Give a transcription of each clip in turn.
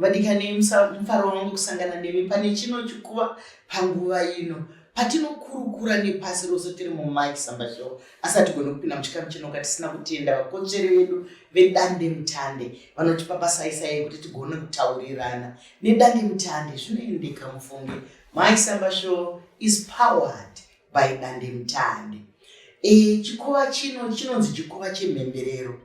vadikani mufaro wangu kusangana nemi pane chino chikuva panguva ino patinokurukura nepasi rose tiri mumike sambashow asi hatigoni kupinda muchikamu chinoka tisina kutenda vakotsveri vedu vedande mutande vanotipa pasaisai kuti tigone kutaurirana nedande mutande zvinoendeka mufunge mike sambashow is powered by dandemutande e, chikova chino chinonzi chikova chemhemberero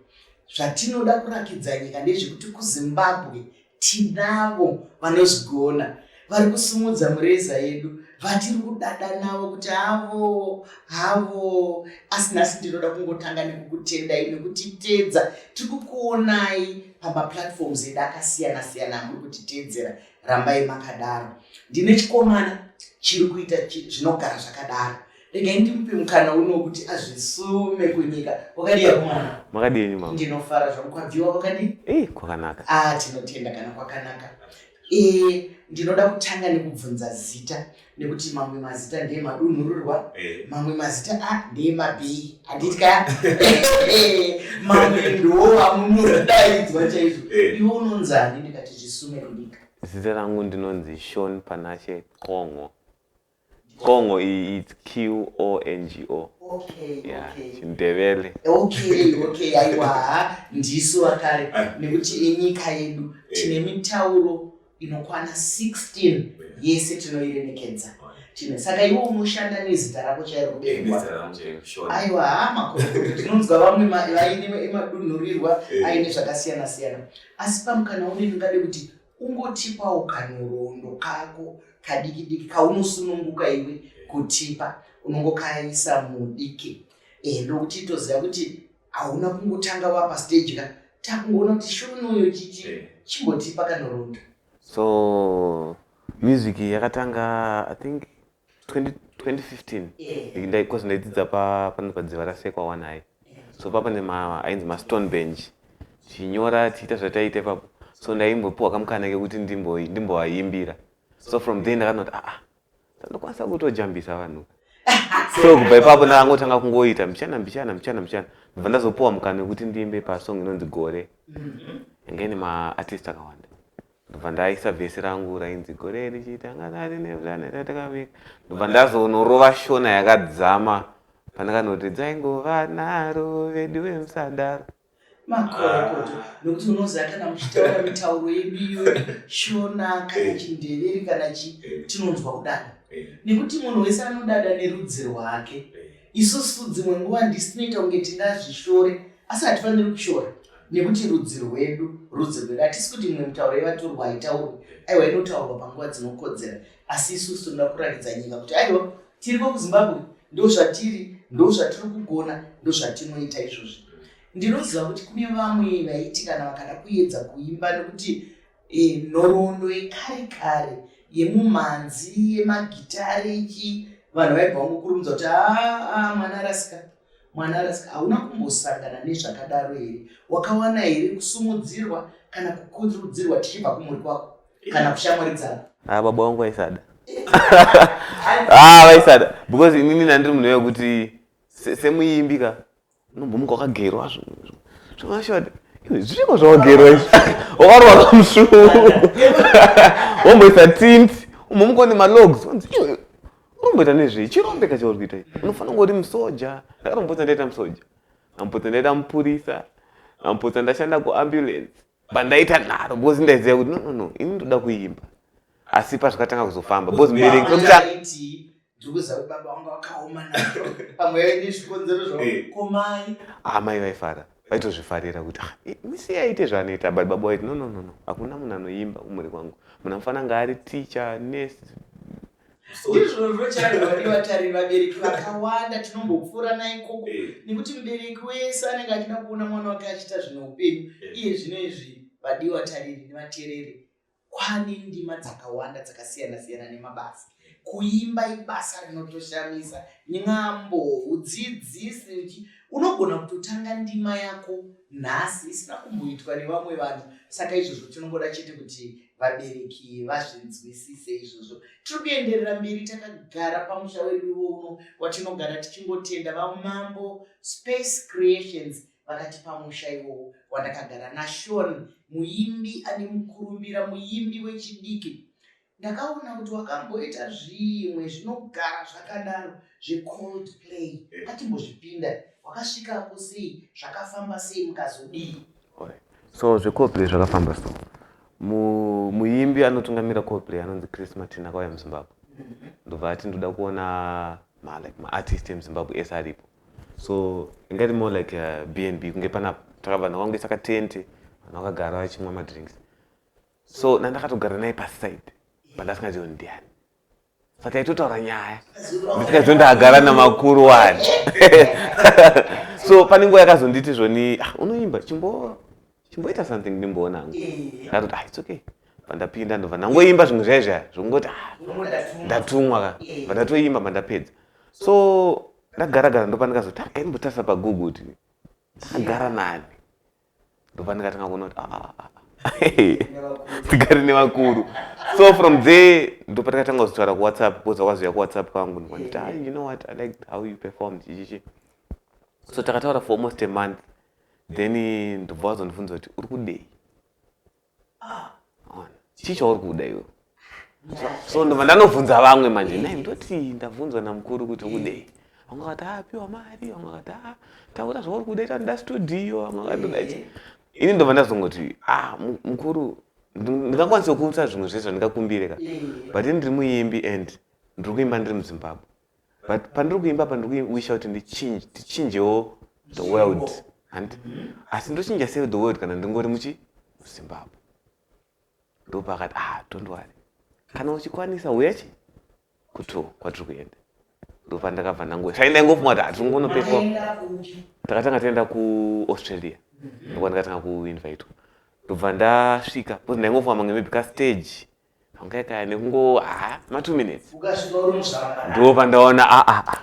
zvatinoda kurakidza nyika ndezvekuti kuzimbabwe tinavo vanozvigona vari kusimudza mureza yedu vatiri kudada navo kuti havo havo asi nhasi ndinoda kungotanga nekukutendai nekutiteedza tiri kukuonai pamaplatforms edu akasiyana siyana amuri kutiteedzera rambai makadaro ndine chikomana chiri kuita zvinogara zvakadaro regai ndimupe mukana uno wekuti azvisume kunyika kwakadii akomana makadini ma ndinofara zvangu kwabviwa kwakadii eh kwakanaka ah tinotenda kana kwakanaka eh ndinoda kutanga nekubvunza zita nekuti mamwe mazita ndeye madunhururwa eh. mamwe mazita a ah, ndeye mabhii handitya mamwe ndowa munodaidzwa chaizvo eh. iwe unonzani ndikati zvisume kudika zita rangu ndinonzi shon panashe qongo qongo iyi its q o n g o chindevele aiwa ndisu vakare eh. nekuti enyika yedu tine mitauro inokwana 16 yese tinoiremekedza tine saka iwe unoshanda nezita rako chairo kuberwa aiwa hama tinonzwa vamwe vaine madunhurirwa eh. aine zvakasiyana siyana asi pamukana une ndingade kuti ungotipawo kanhorondo kako kadiki diki kaunosununguka iwe eh. kutipa unongokaisa mudiki eh, ndokuti toziva kuti hauna kungotanga wapa stage ka takungoona kuti shunuyo chichi eh. chimbotipa kanorondo so music yakatanga i think 2015 because ndaidzidza pano padziva rasekwa wanai so papa nema ainzi mastone bench tichinyora tichiita zvataiita ipapo so ndaimbopiwa kamukana kekuti ndimboaimbira so from there ndakanoti aa ah, ah, Ndokwanisa kutojambisa vanhu. So kubva ipapo ndakangotanga kungoita mbichana mbichana mbichana mbichana. Ndobva ndazopuwa mukana wekuti ndiimbe pasong inonzi Gore. Yanga ine maartist akawanda. Ndobva ndaisa vhesi rangu rainzi Gore richiita ngatari nevhurane ratakavika. Ndobva ndazonorova shona yakadzama pandakanoti dzaingova naro veduwe musadaro. makorokoto ah. nokuti unoziva kana muchitaura mitauro yedu iyo shona kana eh. chindeveri kana chi eh. tinonzwa kudada eh. nekuti munhu wese anodada nerudzi rwake isusu dzimwe nguva ndisinoita kunge tingazvishore asi hatifaniri kushora nekuti rudzi rwedu rudzi rwedu hatisi kuti imwe mitauro yevatorwa haitaurwe aiwa inotaurwa panguva dzinokodzera asi isusu tinoda kuratidza nyika kuti aiwa Tiripo kuZimbabwe ndozvatiri ndozvatiri kugona ndozvatinoita izvozvi ndinoziva kuti kune vamwe vaiti kana vakada kuedza kuimba nekuti eh, nhoroondo yekare kare yemumhanzi yemagitare ichi vanhu vaibva vangokurumidza kuti aa mwana arasika mwana arasika hauna kumbosangana nezvakadaro here wakawana here kusumudzirwa kana kukurudzirwa tichibva kumhuri kwako kana kushamwaridzana ah baba wangu aisada ah vaisada because inini nandiri munhu wekuti semuimbi ka unombomuka wakagerwa zvomashoti zvichiko zvawagerwa izvi wakarwara musvuu womboisa tint umbomuka une malogs uromboita nezvei chirombeka chauri kuita i unofanira kunge uri musoja ndakarombotsa ndaita musoja ambotsa ndaita mupurisa ambotsa ndashanda kuambulance pandaita nharo because ndaiziva kuti nonono ini ndoda kuimba asi pazvakatanga kuzofamba because mbereki amai vaifara vaitozvifarira kuti ah, misi aite zvaanoita but baba waiti nononono hakuna munhu anoimba kumhuri kwangu munhu amufana ngaari ticha nesi ndizvozvo chaari vatariri vabereki vakawanda tinombopfuura naikoko eh. nekuti mubereki wese anenge achida kuona mwana wake achiita zvine upenyu eh. iye zvino izvi vadii vatariri nevatereri kwane ndima dzakawanda dzakasiyana siyana nemabasa kuimba ibasa rinotoshamisa nyambo udzidzisi unogona kutotanga ndima yako nhasi isina kumboitwa nevamwe vanhu saka izvozvo tinongoda chete kuti vabereki vazvinzwisise izvozvo tiri kuenderera mberi takagara pamusha wedu uno watinogara tichingotenda vamambo space creations vakati pamusha iwowo wandakagara nashon muimbi ane mukurumbira muimbi wechidiki ndakaona kuti wakamboita zvimwe zvinogara zvakadaro zvecold play eh. atimbozvipinda wakasvika kusei zvakafamba sei mukazodii so zvecoplay zvakafamba so muimbi anotungamira coplay anonzi chris martin akauya muzimbabwe ndobva ati ndoda kuona malike maartist emuzimbabwe ese aripo so ingati more like uh, b and b kunge pana taka vanhu vakaungesa katente vanhu vakagara vachimwa madrinks so nandakatogara naye paside but asingazioni ndiani saka itotaura nyaya ndikaizo ndagara namakuru wani so pane nguva yakazonditi zvoni ah, unoimba chimbo chimboita something ndimboona hangu ndakatoti ah it's okay pandapinda ndobva ndangoimba zvimwe zvaye zvaya zvokungoti ah, ndatumwa ka bva ndatoimba mandapedza so ndagaragara ndopandikazoti ah, akaimbotarisa pagugu kuti agara nani ndopandikatanga kuona kuti ah, ah, ah, tigari nevakuru so from there ndopandikatanga kuzitaura kuwhatsapp koza kwaziva kuwhatsapp kwangu ndikanditi ah, you know what i like how you performed chichichi so takataura for almost a month then ndobva wazondibvunza kuti uri kudei chii chauri kuda iwe so ndobva ndanobvunza vamwe manje nai ndoti ndabvunzwa namukuru kuti ukudei vamwe vakati ah, piwa mari vamwe vakati ah, taura zvauri kuda ita nda studio vamwe vakati ndoda chii ini ndobva ndazongoti ah, mukuru ndingakwanisa kukumbisa zvimwe zvese zvandingakumbire ka but ini ndiri muimbi and ndiri kuimba ndiri muzimbabwe but pandiri kuimba apa ndiri kuwisha kuti ndichinje tichinjewo the world handi asi ndochinja sei the world kana ndingori muchi muzimbabwe ndopakati ah don't worry kana uchikwanisa uyachi kuto kwatiri kuenda ndopandakabva ndango sai ndaingofuma kuti hatiri kungonopewa takatanga taenda kuaustralia ndokwandikatanga kuinvitwa ndobva ndasvika bcause ndaingofuma mamwe maybe kastage Hongai kaya nekungo ah ma 2 minutes. Ukasvika uri muzvara. Ndipo pandaona a a a.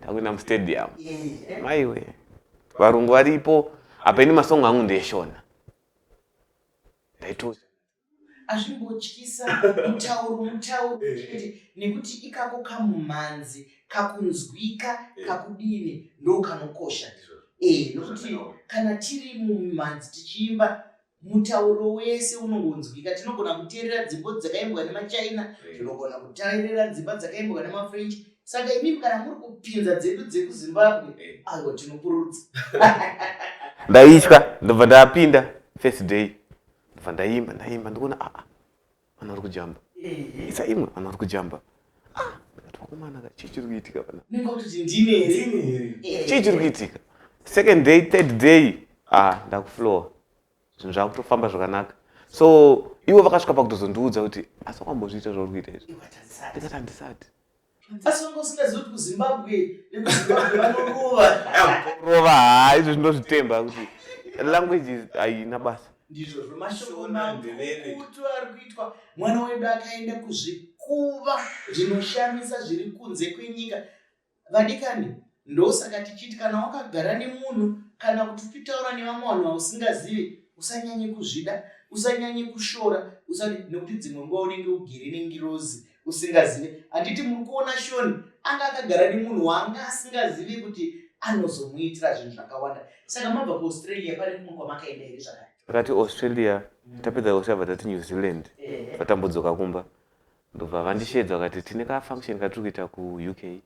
Takuenda mu stadium. Eh. Maiwe. Varungu varipo apa ini masong angu ndeyeshona. Ndaitozi azvimbotyisa mutauro mutauro eh. nekuti ikako kamumhanzi kakunzwika eh. kakudini ndokanokosha e nokuti kana tiri mumhanzi tichiimba Mutauro wese unongonzwika. Tinogona kuteerera dzimbo dzakaimbwa nemaChina, tinogona kuteerera dzimba dzakaimbwa nemaFrench. Saka imimi kana muri kupinza dzedu dzekuZimbabwe, aiwa tinopururudza. Ndaitya, ndobva ndapinda first day. Ndobva ndaimba, ndaimba, ndikuona aa. Ah, ah. vana vari kujamba isa imwe vana vari kujamba ah, vakomana ka chii chiri kuitika pana chii chiri kuitika second day third day ah ndakuflowa zvinhu zvakutofamba zvakanaka so ivo vakasvika pakutozondiudza kuti asi wakambozviita zvauri kuita izvi ndikati handisati asi wanga usingazivi kuti kuzimbabwe nekuzimbabwe vanorova rova haa izvo zvinozvitemba kuti language haina basa ndizvozvo mashoko makutu ari kuitwa mwana wedu akaenda kuzvikuva zvinoshamisa zviri kunze kwenyika vadikani ndosaka tichiti kana wakagara nemunhu kana kuti uchitaura nevamwe vanhu vausingazivi usanyanye kuzvida usanyanye kushora nekuti dzimwe nguva unenge ugere nengirozi usingazive handiti muri kuona shoni anga akagara nemunhu waanga asingazive kuti anozomuitira zvinhu zvakawanda saka mabva kuaustralia pane kumwe kwamakaenda here zvakare takati australia tapedza australia vatati new zealand vatambodzoka kumba ndobva vandisheedza vakati tine kafunction katiri kuita kuuk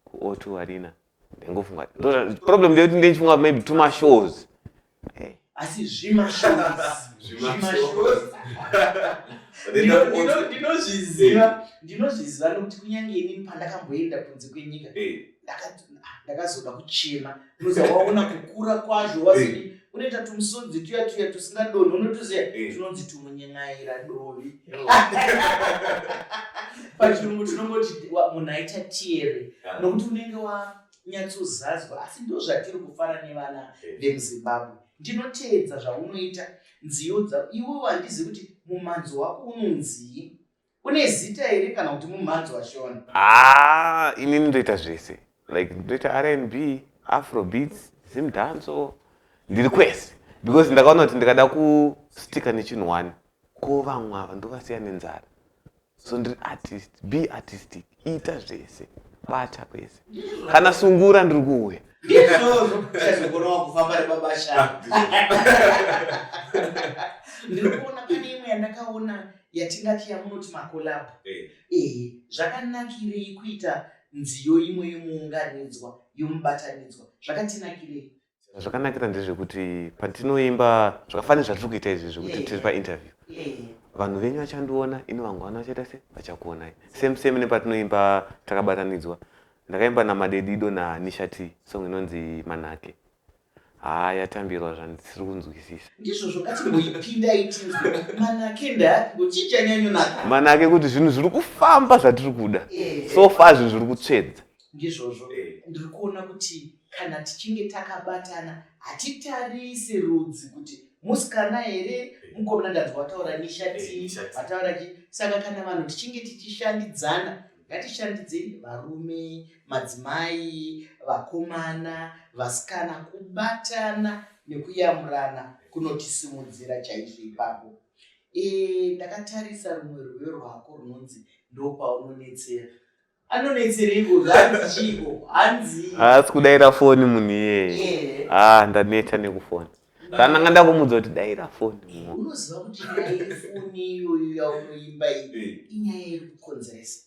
kuotu arena Ndengofunga ndo- problem ndeyekuti ndenchifunga maybe tuma shows Eh, asi zvimashows zvimashows Ndino- ndino- ndinozviziva ndinozviziva nokuti kunyange inini pandakamboenda kunze kwenyika ndaka- ah, ndakazoda kuchema unoziva waona kukura kwazvo wazodi unoita tumusodzi tuya tuya tusingadonhi unotuziva Eh. tunonzi tumunyen'aira dovi pachirungu tinongoti munhu aita tiere ah. nokuti unenge wanyatsozazwa asi ndo zvatiri kufara nevana vemuzimbabwe ndinoteedza zvaunoita nziyo dza iwe wandizi kuti mumhanzi wako unonzii une zita here kana kuti mumhanzi washona haa ah, ini ndoita zvese like ndoita rnb afrobeats zimdanso ndiri kwese because ndakaona kuti ndikada kustika nechinhu one ko vamwe ava ndovasiya nenzara so ndiri artist be artistic ita zvese bata kwese kana sungura ndiri kuuya ndikuona pane imwe yandakaona yatingati yamunoti makolab eh. ehe zvakanakirei kuita nziyo imwe yomuunganidzwa yomubatanidzwa zvakatinakirei Zvakanakira ndezvekuti patinoimba zvakafanira zvatiri kuita izvi zvekuti tiri painterview vanhu venyu vachandiona ini vangu vana vachaita se vachakuonai same same nepatinoimba takabatanidzwa ndakaimba namadedido nanishati song inonzi manake haa yatambirwa zvandisiri kunzwisisa ndizvozvo katingoipindaitinzmanake kuti zvinhu zviri kufamba zvatiri kuda so far zvinhu zviri kutsvedza ndizvozvo eh. ndiri kuona kuti kana tichinge takabatana hatitarise rudzi kuti musikana here eh. mukomana ndanzi wataura nishati vataura eh, chi saka kana vanhu tichinge tichishandidzana ngatishandidzei varume madzimai vakomana vasikana kubatana nekuyamurana kunotisimudzira chaizvo ipapo e, ndakatarisa rumwe rwuyo rwako runonzi ndopaunonetsera anonetsereiko zvanzi chiiko hanzi haasi kudaira foni munhu iyeye ah ndaneta nekufona ndandanga ndakumudza kuti daira foni unoziva kuti nyaya yefoni iyoyo yaunoimba iyi inyaya iri kukonzeresa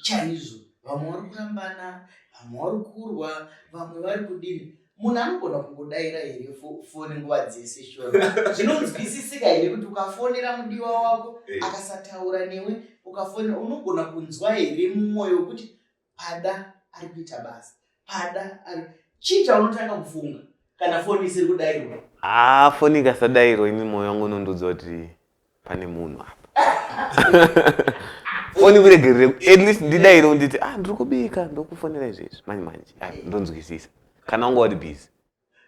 chaizvo vamwe vari kurambana vamwe vari kurwa vamwe vari kudini munhu anogona kungodaira here foni nguva dzese shona zvinonzwisisika here kuti ukafonera mudiwa wako eh. akasataura newe ukafonera unogona kunzwa here mumwoyo wekuti pada ari kuita basa pada ari chii chaunotanga kufunga kana foni isiri kudairwa haa foni ikasadairwa ini mwoyo wangu unondiudza kuti pane munhu apa foni kuregerere at least ndidaire unditi ah ndiri kubika ndokufonera izvezvi manje manje ah, ndonzwisisa kana wanga wari busy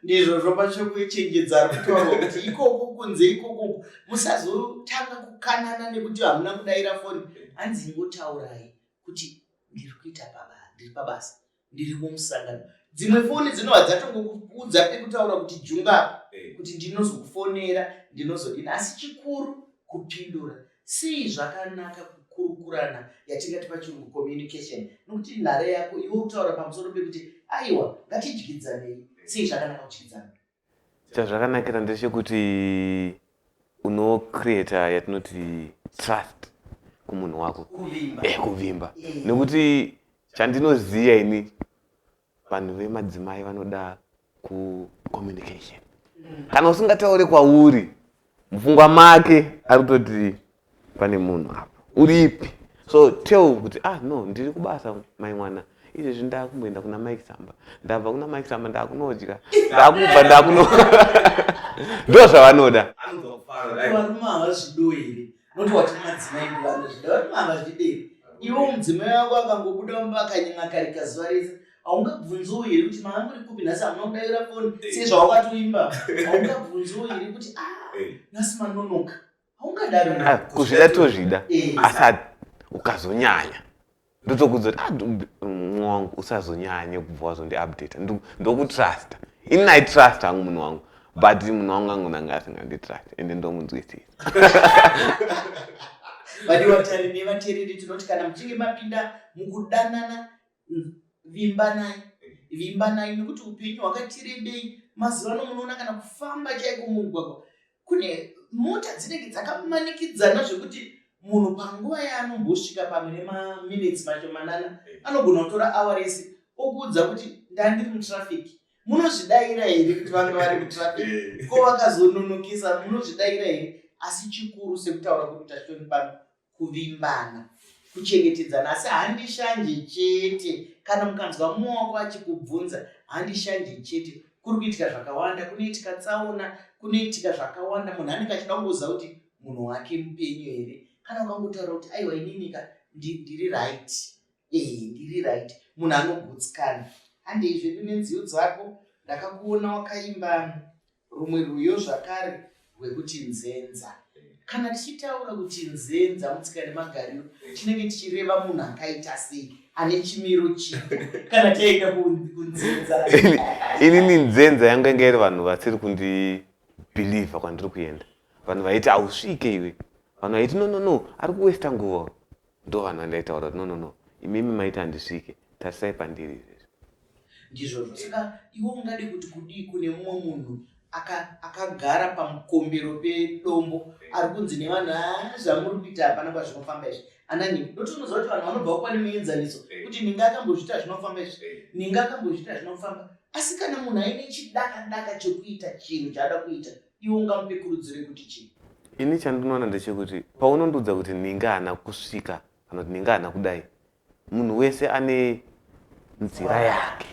ndizvo zvopachekuchenjedza kutaura kuti ikoku kunze ikoku musazotanga kukanana nekuti hamuna kudaira foni hanzi ingotaurai kuti ndiri kuita paba ndiri pabasa ndiri kumusangano dzimwe foni dzinova dzatongokuudza pekutaura kuti junga eh. kuti ndinozokufonera ndinozodini asi chikuru kupindura sei zvakanaka kukurukurana yatingati pachirungu communication nokuti nhare yako iwe kutaura pamusoro pekuti aiwa ngatidyidzanei sei zvakanaka kudyidzana chazvakanakira ndechekuti unocreata yatinoti trust kumunhu wako kuvimba, eh, kuvimba. Eh. nekuti chandinoziva ini vanhu vemadzimai vanoda kucommunication mm. kana usingataure kwauri mupfungwa make ari kutoti pane munhu apa uripi so tell kuti ah no ndiri kubasa mai mwana izvezvi ndakumboenda kuna mike samba ndabva kuna mike samba ndakunodya ndakubva ndakuno ndo zvavanoda iwo mudzimai wako akangobuda mumba akanyima karika zuva rese haungabvunziwo here kuti mama muri kupi nhasi hamuna kudaira foni sezvawakatoimba haungabvunziwo here kuti ah, eh. nhasi manonoka Ah, kuzvida tozvida eh. asi ukazonyanya ndotokudza kuti ah, munhu wangu usazonyanye kubva wazondiupdata ndokutrusta ini naitrust hangu munhu wangu but munhu wangu angu nanga asinganditrust ende ndomunzwisisa vadi vatari nevatereri tinoti kana muchinge mapinda mukudanana vimbanai vimbanai nekuti upenyu hwakatirebei mazuva ano munoona kana kufamba chaiko mumugwagwa kune mota dzinenge dzakamanikidzana zvekuti munhu panguva yaanombosvika pamwe nemaminitsi macho manana eh. anogona kutora awa rese okuudza kuti ndandiri mutraffic munozvidaira here kuti vange vari mutraffic eh. ko vakazononokisa munozvidaira here asi chikuru sekutaura kuti tashoni pano kuvimbana kuchengetedzana asi handishanje chete kana mukanzwa muoko achikubvunza handishanje chete kuri kuitika zvakawanda kunoitika tsaona kunoitika zvakawanda munhu anenge achida kungoziva kuti munhu wake mupenyu here kana ukangotaura kuti aiwa ininika ndiri right ee ndiri right munhu anogutsikana handei zvedu nenziyo dzako ndakakuona wakaimba rumwe rwiyo zvakare rwekuti nzenza kana tichitaura kuti nzenza mutsika nemagariro tinenge tichireva munhu akaita sei ane chimiro chii kana taenda kunzenza inini nzenza yangu yanga iri vanhu vasiri kundibhilivha kwandiri kuenda vanhu vaiti hausvike iwe vanhu vaiti no no no ari kuwesta nguva Ndovanhu vandaitaura kuti no no no imimi maiti handisvike tarisai pandiri izvezvi. Ndizvozvo saka iwe ungade kuti kudii kune mumwe munhu akagara pamukombero pedombo arikunzi nevanhu haa zvamuri kuita hapana kwazvinofamba izvi anani ndotonoziva kuti vanhu vanobva kupane muenzaniso kuti ninga akambozviita zvinofamba izvi ninga akambozviita zvinofamba asi kana munhu aine chidakadaka chekuita chinhu chaada kuita Iwe ungamupe kurudziro yekuti chii? Ini chandinoona ndechekuti paunondiudza kuti ninga hana kusvika kana kuti ninga hana kudai, munhu wese ane nzira yake,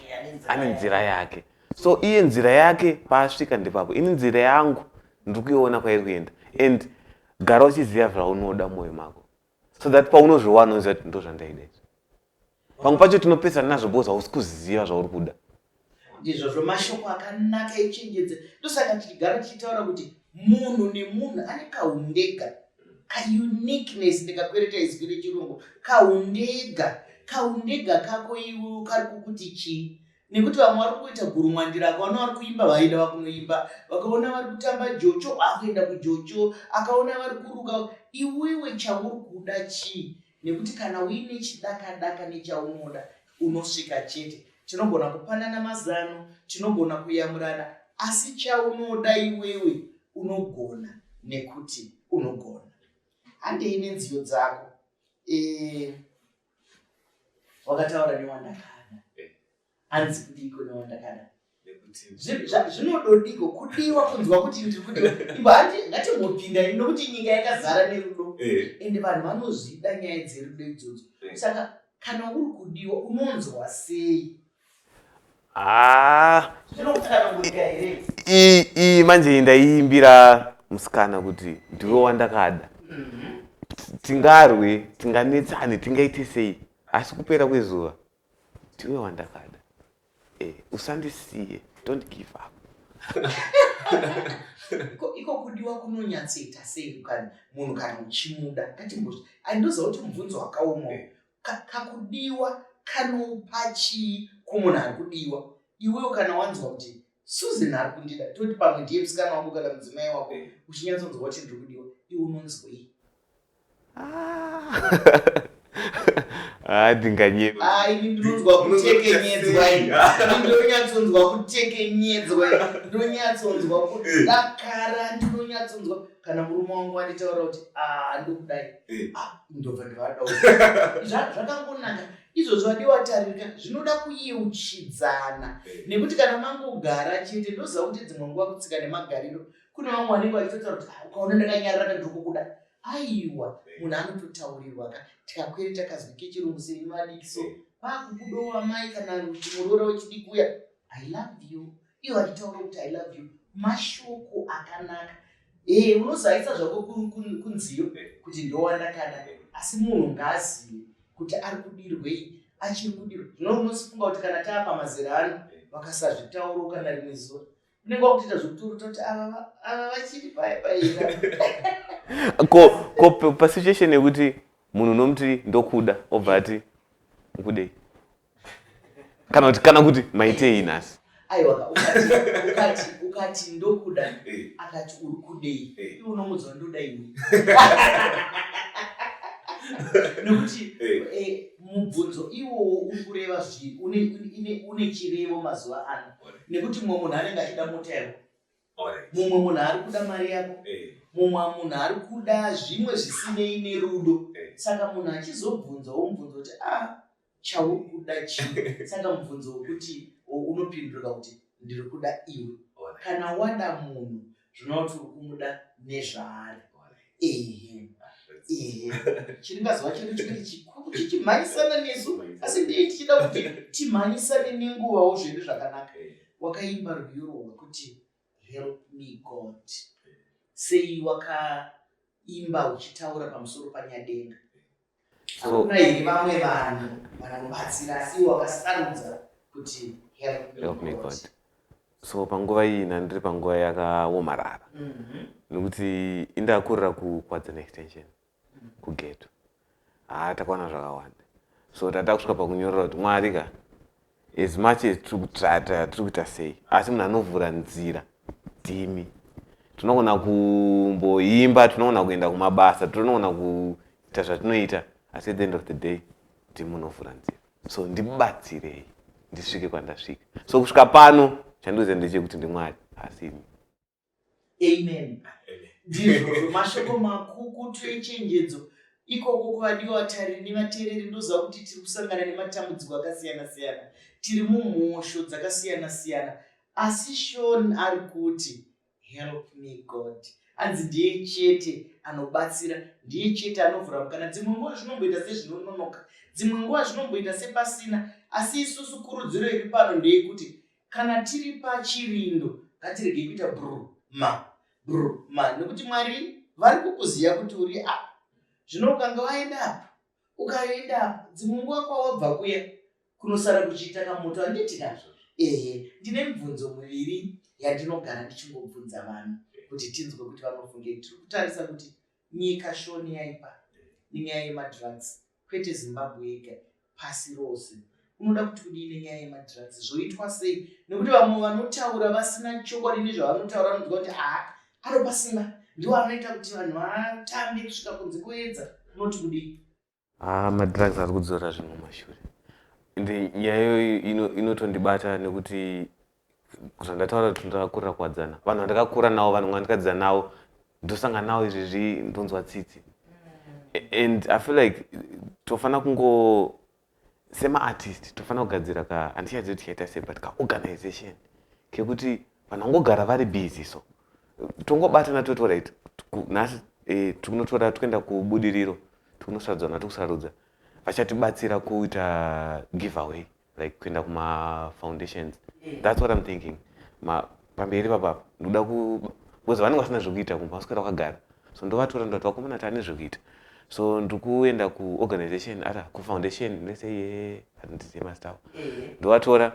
ane nzira yake. So iye nzira yake paasvika ndepapo, ini nzira yangu ndiri kuiona kwairi kuenda and gara uchiziva zvaunoda mumwoyo mako. so that paunozviwana unoziva kuti ndozvandaida izvi pamwe pacho tinopesana nazvo bcause hausi kuziva zvauri kuda ndizvozvo mashoko akanaka echenjedza ndosaka tichigara tichitaura kuti munhu nemunhu ane kaundega kauniqueness ndikakwereta izwi rechirungu kaundega kaundega kako iwe kari kukuti chii nekuti vamwe vari kuita gurumwandira akaona vari kuimba vaida vakunoimba vakaona vari kutamba jocho akuenda kujocho akaona vari kuruka iwewe chauri kuda chii nekuti kana uine chidakadaka nechaunoda unosvika chete tinogona kupanana mazano tinogona kuyamurana asi chaunoda iwewe unogona nekuti unogona handei nenziyo dzako e, wakataura newandakada eh. hanzi kudiiko newandakada zvinododiko kudiwa kunzwa kuti ndiri kudiwa imba hati ngatimbopinda ini nokuti nyika yakazara nerudo eh. ende vanhu vanozvida nyaya dzerudo idzodzo eh. saka kana uri kudiwa unonzwa sei haa iyi iyi manje iyi ndaiimbira musikana kuti ndiwe wandakada tingarwe tinganetsane tingaite sei asi kupera kwezuva ndiwe wandakada eh, usandisiye don't give up iko kudiwa kunonyatsoita sei munhu kana uchimuda ngatimbozi andoziva kuti mubvunzo wakaoma kakudiwa kanopa chii kumunhu ari kudiwa iwewo kana wanzwa kuti susan ari kundida toti pamwe ndiye musikana wangu kana mudzimai wako eh. uchinyatsonzwa kuti ndiri kudiwa iwe unonzwei ndinonyatsonzwa kutekenyedzwa ndinonyatsonzwa kudakara ndinonyatsonzwa kana murume wangu wanditaura kuti ah, ndokudai eh. ah, ndobva ndivada zvakangonaka izvozvo vadi wataririka zvinoda kuyeuchidzana eh. nekuti kana mangogara chete ndoziva kuti dzimwe nguva kutsika nemagariro kune vamwe vanenge vachitotaura kuti ah, ukaona ndakanyarira kandikukuda aiwa eh. munhu anototaurirwa ka tikakwere takazwi kechirungu sei madikiso kwakukudowa mai kana muroora wechidiki uya i love you iwo achitaura kuti i love you mashoko akanaka ee eh, unozaisa zvako kunziyo kuti ndowandakada asi munhu ngaazive kuti ari kudirwei achiri kudirwa zvino unosifunga kuti kana taa pamazera ano vakasazvitauro kana rimwe zuva unenge wakutoita zvekuturu toti ava vachiri paye paina ko ko pasituation yekuti munhu unomuti ndokuda obva ati ukudei kana kuti kana kuti maitei nhasi aiwa ukati ukati ndokuda eh. akati uri kudei eh. iwe unomudzwa ndoda ini nokuti eh. mubvunzo iwowo uri kureva zvi une chirevo mazuva ano nekuti mumwe munhu anenge achida mota yako mumwe munhu ari kuda mari yako mumwe munhu ari kuda zvimwe zvisinei nerudo saka munhu achizobvunzawo mubvunzo kuti a ah, chauri kuda chii saka mubvunzo wekuti unopindurika kuti ndiri kuda iwe kana wada munhu zvinova kuti uri kumuda nezvaari ehe ehe chiringazova chedu chikuti chikuru chichimhanyisana nesu asi ndii tichida kuti timhanyisane nenguvawo zvedu zvakanaka wakaimba rwiyo rwekuti help me god sei wakaimba uchitaura pamusoro panyadenga Hakuna here vamwe vanhu vanobatsira asi iwe wakasarudza kuti help me Help me God. God. so panguva iyi nandiri panguva yakaomarara Mhm. nekuti indakurira ku kwadzen extension kugeto haa takaona zvakawanda so tatakusvika pakunyorera kuti mwari ka as much as tiri kutrata tiri kuita sei asi munhu anovhura nzira ndimi tinogona kumboimba tinogona kuenda kumabasa tinogona kuita zvatinoita asi at the end of the day ndimi unovhura nzira so ndibatsirei ndisvike kwandasvika so kusvika pano chandikuziva ndechekuti ndimwari asi imi amen ndizvozvo mashoko makukutu echenjedzo ikoko kuvadiwa vatariri nevateereri ndoziva kuti tiri kusangana nematambudziko akasiyana siyana tiri mumhosho dzakasiyana siyana asi shon ari kuti help me god hanzi ndiye chete anobatsira ndiye chete anovhura mukana dzimwe nguva zvinomboita sezvinononoka dzimwe nguva zvinomboita sepasina asi isusu kurudziro iri pano ndeyekuti Kana tiri pachirindo ngatirege kuita brr ma brr ma nekuti Mwari vari kukuziva kuti uri apa. Zvino ukanga waenda apa ukaenda apa dzimwe nguva kwawabva kuya kunosara kuchiita kamoto handiti kazvo? Ehe, ndine mibvunzo miviri yandinogara ndichingobvunza vanhu kuti tinzwe kuti vanofunge. Tiri kutarisa kuti nyika shoni yaipa nenyaya yemadrugs. kwete zimbabwe yega pasi rose unoda kuti kudii nenyaya yemadrugs zvoitwa sei nekuti vamwe vanotaura vasina chokwadi nezvavanotaura anoziva kuti haa anopa simba ndiwo anoita kuti vanhu vatambe kusvika kunze kuedza unoti kudii haa ah, madrugs ari kudzora zvinhu mashure ende nyaya iyoyo inotondibata nekuti zvandataura kuti ndakakurira kuwadzana vanhu vandakakura navo vanhu vandikadzidza navo ndosanga navo izvezvi ndonzwa tsitsi and i feel like tofanira kungo semaartist tofanira kugadzira ka handichadzi kuti chaita sei but kaorganization kekuti vanhu vangogara vari busy so tongobatana toti orit nhasi eh, tinotora toenda kubudiriro tinosarudzana tokusarudza vachatibatsira kuita giveaway like kuenda kuma foundations that's what i'm thinking ma pamberi papapa ndoda ku because vanenge vasina zvekuita kumba vaswera vakagara so ndovatora ndoti vakomana tane zvekuita so ndikuenda kuorganization ata kufoundation nese ye handizive mazita avo ndovatora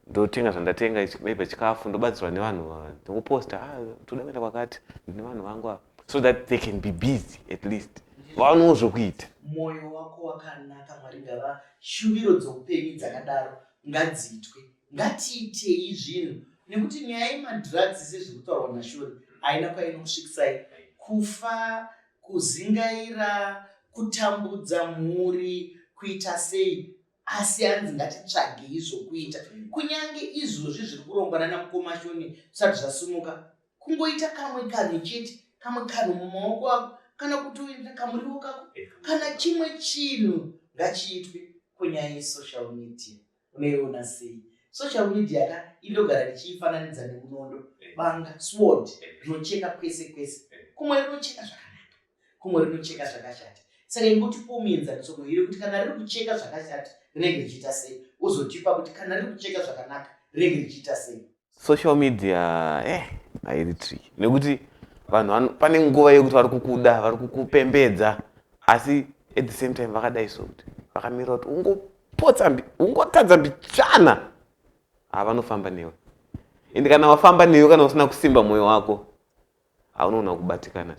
ndotenga zvandatenga maybe chikafu ndobatsirwa nevanhu ndikuposta ah, toda kuenda kwakati ndine vanhu vangu ava so that they can be busy at least vaonewo zvekuita mwoyo wako wakanaka mwari ngava Shuviro dzoupenyu dzakadaro ngadziitwe. Ngatiitei zvinhu nekuti nyaya yemadrugs sezviri kutaurwa naShori haina kwainokusvikisai. Kufa, kuzingaira, kutambudza mhuri, kuita sei asi hanzi ngatitsvagei zvokuita. Kunyange izvozvi zviri kurongwa nana mukoma Shoni zvisati zvasimuka, kungoita kamwe kanhu chete kamwe kanhu mumaoko ako kana kutoenda kamuriwo kako eh. kana chimwe chinhu ngachiitwe kunyaya yesocial media unoiona sei social media ka indogara ndichiifananidza nemunondo eh. banga sword eh. rinocheka kwese kwese kumwe rinocheka zvakanaka kumwe rinocheka zvakashata saka ingotipo muenzaniso muhiri kuti kana riri kucheka zvakashata rinenge richiita sei uzotipa kuti kana riri kucheka zvakanaka rinenge richiita sei social media eh hairi tricky nekuti vanhu pane nguva yekuti vari kukuda vari kukupembedza asi at the same time vakadai so kuti vakamira kuti ungopotsa ungotadza mbichana ha vanofamba newe ende kana wafamba newe kana usina kusimba mwoyo wako haunoona kubatikana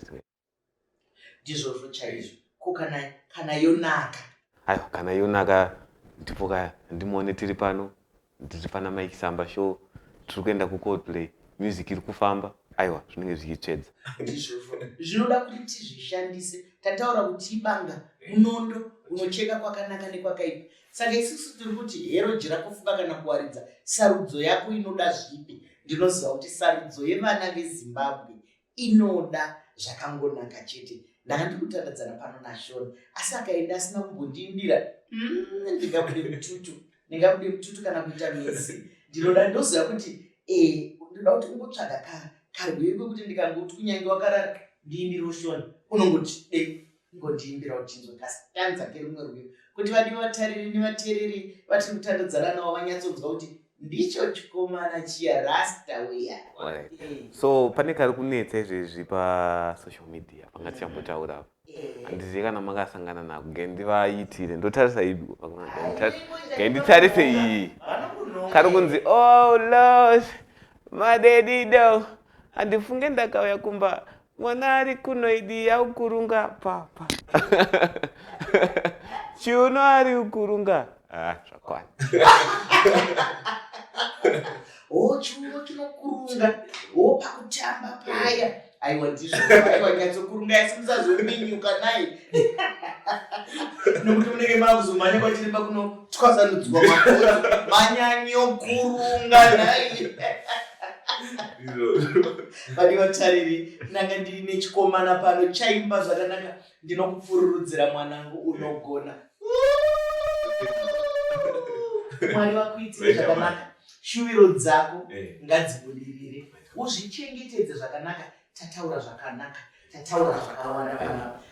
ndizvozvo chaizvo ko kana kana yonaka aiwa kana yonaka ndipo kaya ndimuone tiri pano ndiri pana mike samba show tiri kuenda kucoldplay music iri kufamba aiwa zvinenge zvichitsvedza ndizvozvo zvinoda kuti tizvishandise tataura kuti ibanga munondo unocheka kwakanaka nekwakaipa saka isusu tiri kuti hero jira kufunga kana kuwaridza sarudzo yako inoda zvipi ndinoziva kuti sarudzo yevana vezimbabwe inoda zvakangonaka chete ndanga ndiri kutandadzana pano nashona asi akaenda asina kumbondiimbira mm, ndingabude mututu ndingabude mututu kana kuita mizi ndinoda ndoziva kuti eh, ndinoda kuti ungotsvaga ka karwekwe kuti ndikangoti kunyange wakarara ndiimbire ushona unongoti dei Ingondiimbira uchinzwa kastanza kerumwe rwiyo kuti vadiwa vatariri nevateereri vatiri kutandodzana navo vanyatsonzwa kuti ndicho chikomana chiya rasta weya eh. so pane kari kunetsa izvezvi pasocial media panga tichambotaura apa eh. handizivi kana makasangana nako ngai ndivaitire ndotarisa idu ngai nditarise iyi kari kunzi o oh, los madedido handifunge ndakauya kumba Mwana ari kuno idi yaukurunga papa. Chiuno ari ukurunga. Ah, zvakwana. Oh, chiuno chinokurunga. Oh, pakutamba paya. Aiwa ndizvo. Aiwa nyatsokurunga yasi musazominyuka naye. Nokuti munenge makuzomhanya kwachiri pakuno twasanudzwa makoto. Manyanyo kurunga naye. vane vatariri ndanga ndiri nechikomana pano chaimba zvakanaka ndinokupfururudzira mwanangu unogona mwari vakuitire zvakanaka shuviro dzako eh. ngadzibudirire uzvichengetedze zvakanaka tataura zvakanaka tataura zvakawanda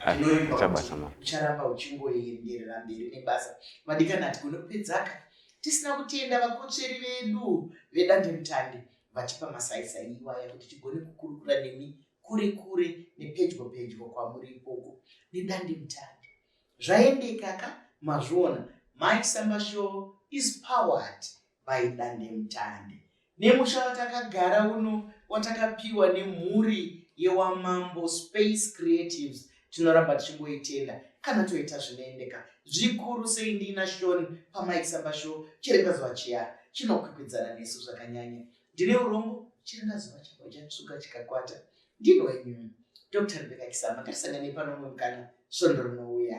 panaucharamba uchingoenderera mberi nebasa madikana hatigone kupedzaka tisina kutenda vakotsveri vedu vedandemutande vachipa masaisai iwaya kuti tigone kukurukura nemi kure kure nepedyo pedyo kwamuri ikoko nedandemutande zvaendeka ka mazviona mike sambashoo is powered by dandemutande nemusha watakagara uno watakapiwa nemhuri yewamambo space creatives tinoramba tichingoitenda kana toita zvinoendeka zvikuru sei ndiina shon pamaisamba sho chirenga zuva chiya chinokwikwidzana nesu zvakanyanya ndine urombo chirenga zuva chako chatsvuka chikakwata ndinoenyu dr rebeka kisama ngatisanganei pano mumwe mukana svondo rinouya